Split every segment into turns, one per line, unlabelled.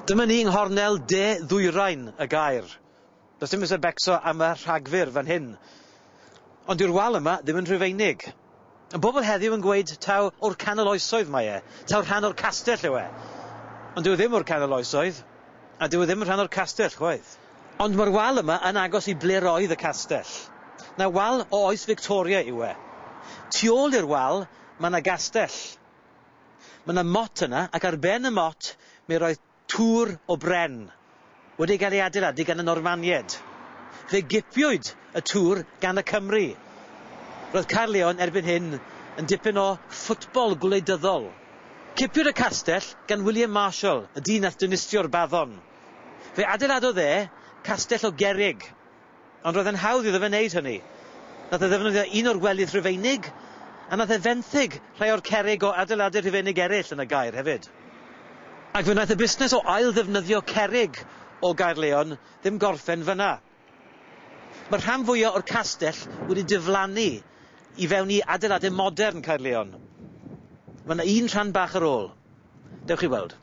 Dyma ni yng nghornel de ddwyrain y gaer. Does dim eisiau becso am y rhagfyr fan hyn. Ond yw'r wal yma ddim yn Rhufeinig? Y bobl heddiw yn gweud taw o'r canol oesoedd mae e, taw rhan o'r castell yw e. Ond dyw e ddim o'r canol oesoedd, a dyw e ddim yn rhan o'r castell chwaith. Ond mae'r wal yma yn agos i ble roedd y castell. Na wal o oes Victoria yw e. Tu ôl i'r wal mae 'na gastell. Mae 'na mot yna ac ar ben y mot mi roedd tŵr o bren wedi gael ei adeiladu gan y Normanied. Fe gipiwyd y tŵr gan y Cymry. Roedd Caerleon erbyn hyn yn dipyn o ffwtbol gwleidyddol. Cipiwyd y castell gan William Marshall, y dyn nath dinistio'r baddon. Fe adeiladodd e castell o gerrig, ond roedd e'n hawdd iddo fe wneud hynny. Nath e ddefnyddio un o'r welydd Rhufeinig, a nath e fenthyg rhai o'r cerrig o adeiladau Rhufeinig eraill yn y Gaer hefyd. Ac fe wnaeth y busnes o ail-ddefnyddio cerrig o Gaerleon ddim gorffen fan'na. Mae'r rhan fwyaf o'r castell wedi diflannu i fewn i adeiladau modern Caerlleon. Mae yna un rhan bach ar ôl. Dewch i weld.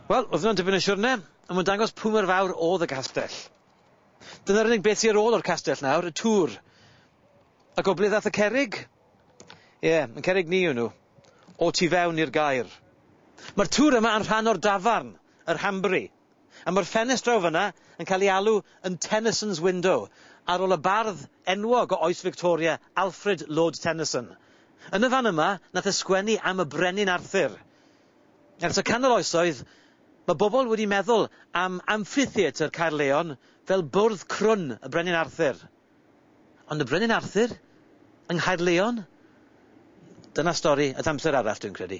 Wel, oedd hwnna'n dipyn o siwrne, ond mae'n dangos pwy mor fawr oedd y castell. Dyna'r unig beth sy ar ôl o'r castell nawr, y tŵr. A gobledd ddath y cerig? Ie, yeah, yn cerig ni yw nhw. O tu fewn i'r gair. Mae'r tŵr yma yn rhan o'r dafarn, yr Hambry. A mae'r ffenest draw fan'na yn cael ei alw yn Tennyson's Window, ar ôl y bardd enwog o oes Victoria, Alfred Lord Tennyson. Yn y fan yma, nath e sgwennu am y Brenin Arthur. Ers y canol oesoedd, mae bobl wedi meddwl am Amphitheatr Caerleon fel bwrdd crwn y Brenin Arthur. Ond y Brenin Arthur? Yng Nghaerleon? Dyna stori at amser arall, dwi'n credu.